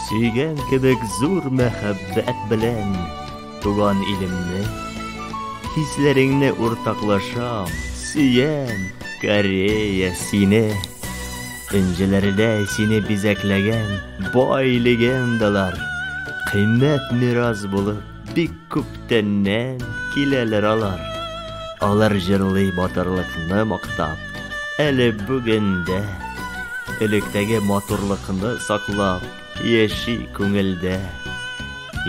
Сөйгән кебек зур мәхәббәт белән туган илемне хисләреңне уртаклашам сөям корея сине энҗеләрдә сине бизәкләгән бай легендалар кыйммәт мирас булып Бик күптәннән киләләр алар. Алар җырлый батырлыкны мактап, әле бүгендә электәге матурлыкны саклап яши күңелдә.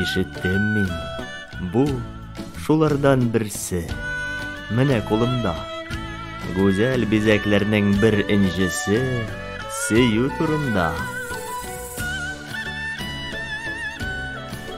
Ишеттем мин, бу шулардан берсе. Менә кулымда гүзәл бизәкләрнең бер инҗесе сөю турында.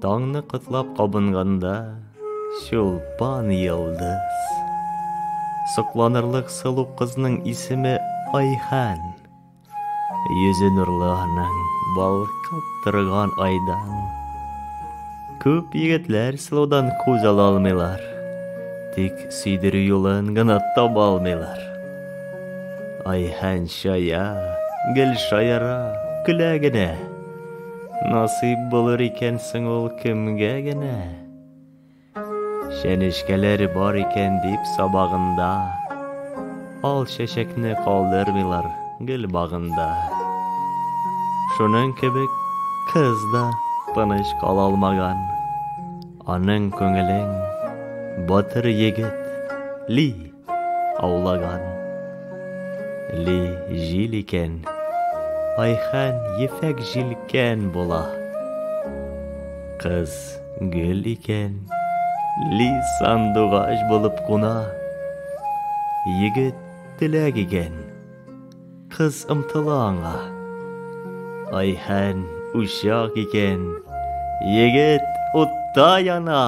Таңны котлап кабынганда, чулпан йылдыз. Сокланырлык сылу кызның исеме Айхан. Йөзе нурлы аның, балкып торган айдан. Күп егетләр сылудан күз ала алмыйлар. Тик сөйдерү юлын гына таба алмыйлар. Айхан шая, гел шаяра, көлә генә. Насыйп булыр икән соң ул кемгә генә? Чәнечкәләр бар икән дип сабагында, Ал чәчәкне калдырмыйлар гөл багында. Шуның кебек кыз да тыныч кала алмаган, Аның күңелен батыр егет ли. Аулаган. Ли җил икән. Айхан ефәк җилкән була. Кыз гөл икән. Ли сандугач булып куна. Егет теләк икән. Кыз омтыла аңа. Айһән учак икән, егет утта яна.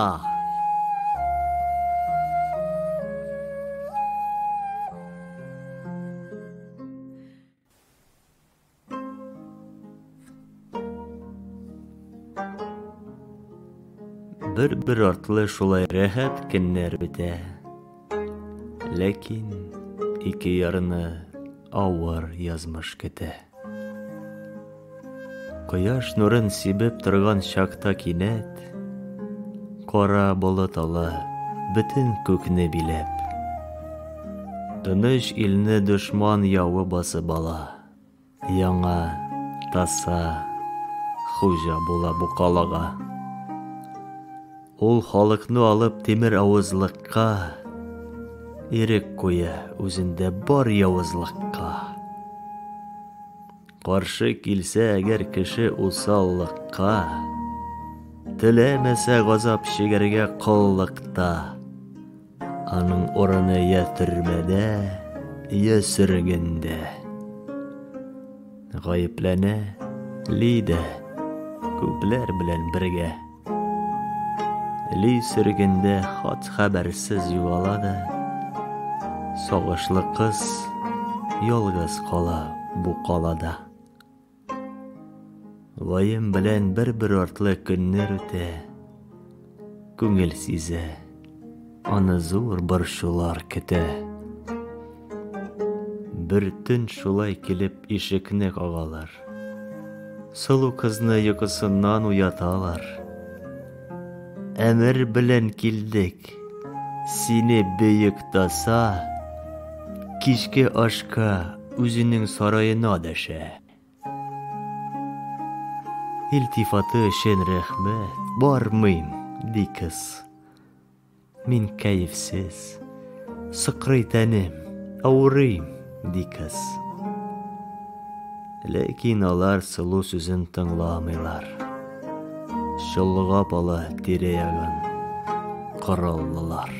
Бер-бер артлы шулай рәхәт көннәр бетә. Ләкин ике ярына авыр язмыш көтә. Кояш нурын сибеп торган чакта кинәт кара болыт ала бөтен күкне биләп. Тыныч илне дошман явы басып ала. Яңа таса хуҗа була бу калага. Ул халыкны алып тимер авызлыкка ирек куя үзендә бар явызлыкка. Каршы килсә әгәр кеше усаллыкка, теләмәсә газап чигәргә коллыкта. Аның урыны я төрмәдә, я сөргендә. Гаепләнә Лида күпләр белән бергә. Ли сөргендә хат хәбәрсез югала да, сагышлы кыз ялгыз кала бу калада. Ваем белән бер-бер артлы көннәр үтә. Күңел сизә, аны зур борчулар көтә. Бер төн шулай килеп ишекне кагалар. Сылу кызны йокысыннан уяталар. Әмер белән килдек. Сине бөек таса кичке ашка үзенең сараена дәшә. Илтифаты өчен рәхмәт, бармыйм, ди кыз. Мин кәефсез. Сыкрый тәнем, авырыйм. ди кыз. Ләкин алар сылу сүзен тыңламыйлар. Чолгап ала тирә-ягын кораллылар.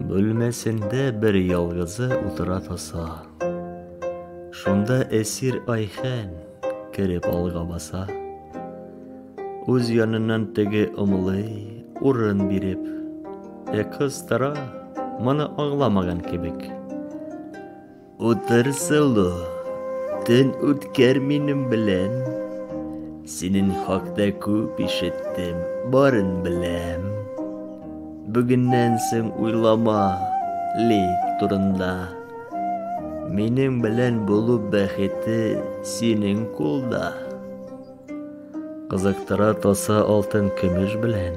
Бүлмәсендә бер ялгызы утыра тоса. Шунда әсир Айхән кереп алга баса. Үз яныннан теге ымлый, урын биреп. Ә кыз тора, моны аңламаган кебек. Утыр, Сылу, төн үткәр минем белән. Синең хакта күп ишеттем, барын беләм. Бүгеннән соң уйлама Лик турында. Минем белән булу бәхете синең кулда. Кызыктыра тоса алтын көмеш белән,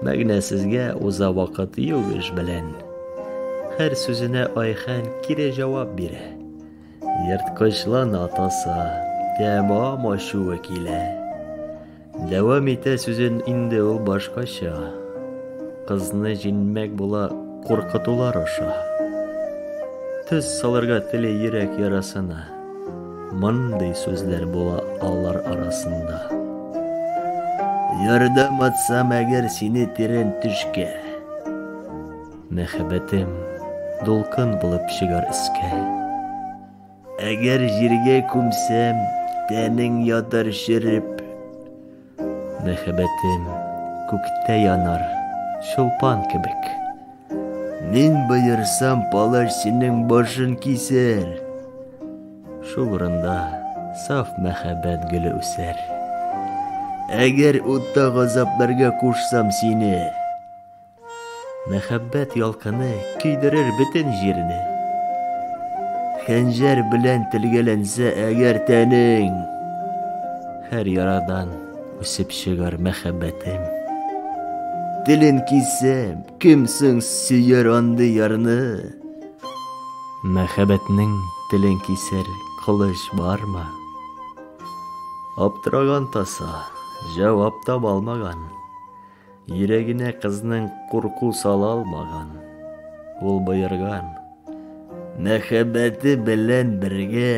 Мәгънәсезгә уза вакыт юк эш белән. Һәр сүзенә Айхан кире җавап бирә. Ерткычлана тоса, тәмам ачуы килә. Дәвам итә сүзен инде ул башкача. Кызны җинмәк була куркытулар аша. Төз салырга теле йөрәк ярасына. Мондый сүзләр була алар арасында. Ярдәм атсам әгәр сине тирән төшкә. Мәхәббәтем дулкын булып чыгар өскә. Әгәр җиргә күмсәм, тәнең ятар череп. Мәхәббәтем күктә янар чулпан кебек. Мин боерсам, палач синең башын кисәр. Шул урында саф мәхәббәт гөле үсәр. Әгәр утта газапларга кушсам сине, Мәхәббәт ялкыны көйдерер бөтен җирне. Хәнҗәр белән телгәләнсә әгәр тәнең, һәр ярадан үсеп чыгар мәхәббәтем. Телен кисәм, кем соң сөяр андый ярны? Мәхәббәтнең телен кисәр кылыч бармы? Аптыраган таса, җавап таба алмаган. Йөрәгенә кызның курку сала алмаган. Ул боерган. Мәхәббәте белән бергә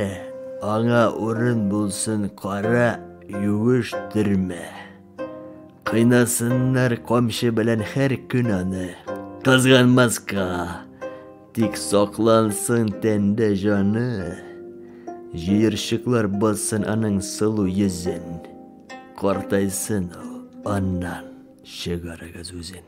аңа урын булсын кара юеш төрмә. Кыйнасыннар камчы белән һәр көн аны. Кызганмаска, тик саклансын тәндә җаны. Җыерчыклар бассын аның сылу йөзен. Картайсын ул, аннан чыгарыгыз үзен.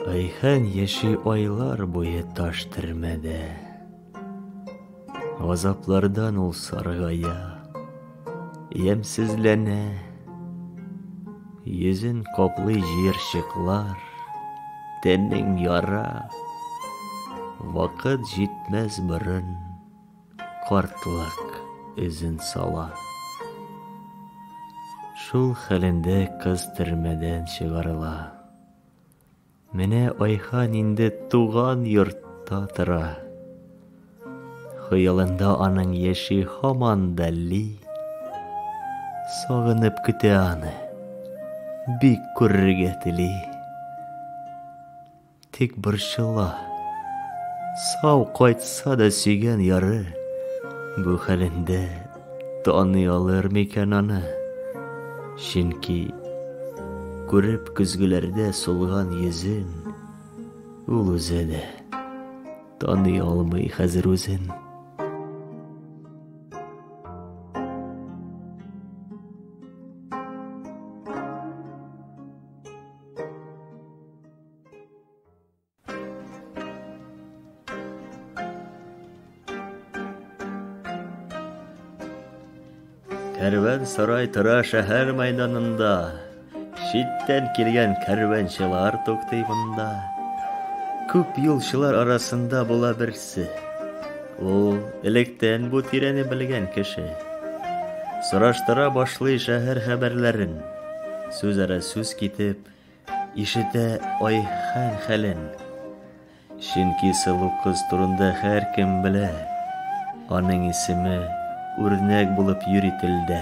Айхан яши айлар буе таш термәдә. Азаплардан ул саргая. Ямсезләнә Йөзен каплый җыерчыклар Тәнең яра Вакыт җитмәс борын Картлык эзен сала Шул хәлендә кыз төрмәдән чыгарыла Менә Айхан инде туган йортта тора. Хыялында аның яши һаман да Ли. Сагынып көтә аны. Бик күрергә тели. Тик борчыла. Сау кайтса да сөйгән яры бу хәлендә Таный алыр микән аны? Чөнки күреп көзгеләрдә сулган йөзен, ул үзе дә таный алмый хәзер үзен. Кәрван сарай тора шәһәр мәйданында. Читтән килгән кәрванчылар туктый монда. Күп юлчылар арасында була берсе. Ул электән бу тирәне белгән кеше. Сораштыра башлый шәһәр хәбәрләрен. Сүз ара сүз китеп, Ишетә Айхан хәлен. Чөнки сылу кыз турында һәркем белә. Аның исеме үрнәк булып йөри телдә.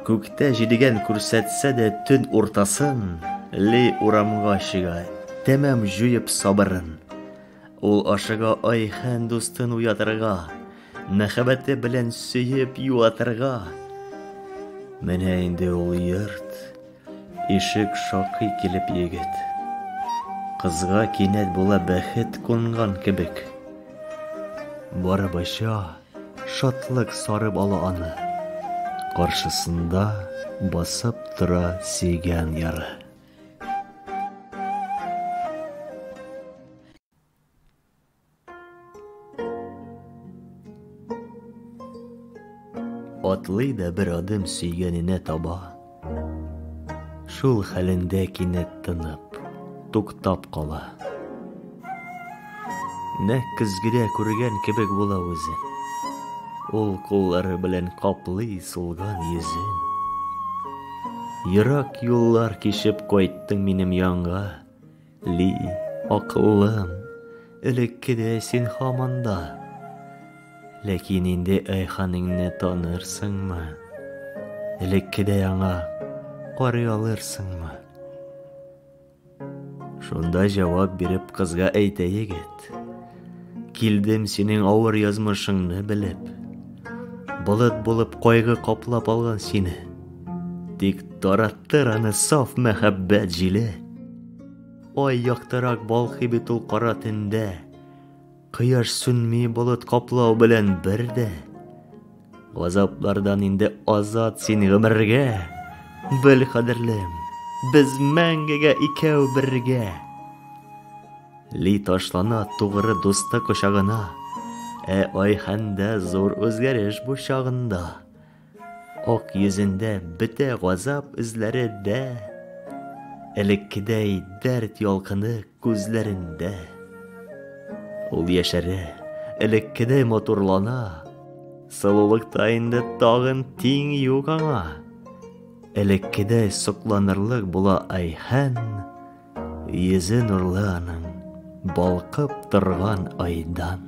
Күктә җидегән күрсәтсә дә төн уртасын, Ли урамга чыга, тәмам җуеп сабырын. Ул ашыга Айхан дустын уятырга, мәхәббәте белән сөеп юатырга. Менә инде ул йорт, ишек шакый килеп егет. Кызга кинәт була бәхет кунган кебек. Барабача шатлык сарып ала аны. Каршысында басып тора сөйгән яры. Атлый да бер адым сөйгәненә таба. Шул хәлендә кинәт тынып, туктап кала. Нәкъ көзгедә күргән кебек була үзе. Ул куллары белән каплый сулган йөзен. Ерак юллар кичеп кайттың минем янга, Ли, акыллым, элеккедәй син һаман да. Ләкин инде Айханыңны танырсыңмы? Элеккедәй аңа карый алырсыңмы? Шунда җавап биреп кызга әйтә егет. Килдем синең авыр язмышыңны белеп. Болыт булып кайгы каплап алган сине. Тик тараттыр аны саф мәхәббәт җиле. Ай яктырак балкый бит ул кара төндә. Кояш сүнми болыт каплау белән бер дә. Газаплардан инде азат син гомергә. Бел, кадерлем, без мәңгегә икәү бергә. Ли ташлана тугры дусты кочагына. Ә ай хәндә зур үзгәреш бу чагында. Ак йөзендә бетә газап эзләре дә, Элеккедәй дәрт ялкыны күзләрендә. Ул яшәрә, элеккедәй матурлана, Сылулыкта инде тагын тиң юк аңа. Элеккедәй сокланырлык була Айхан, Йөзе нурлы аның, балкып торган айдан.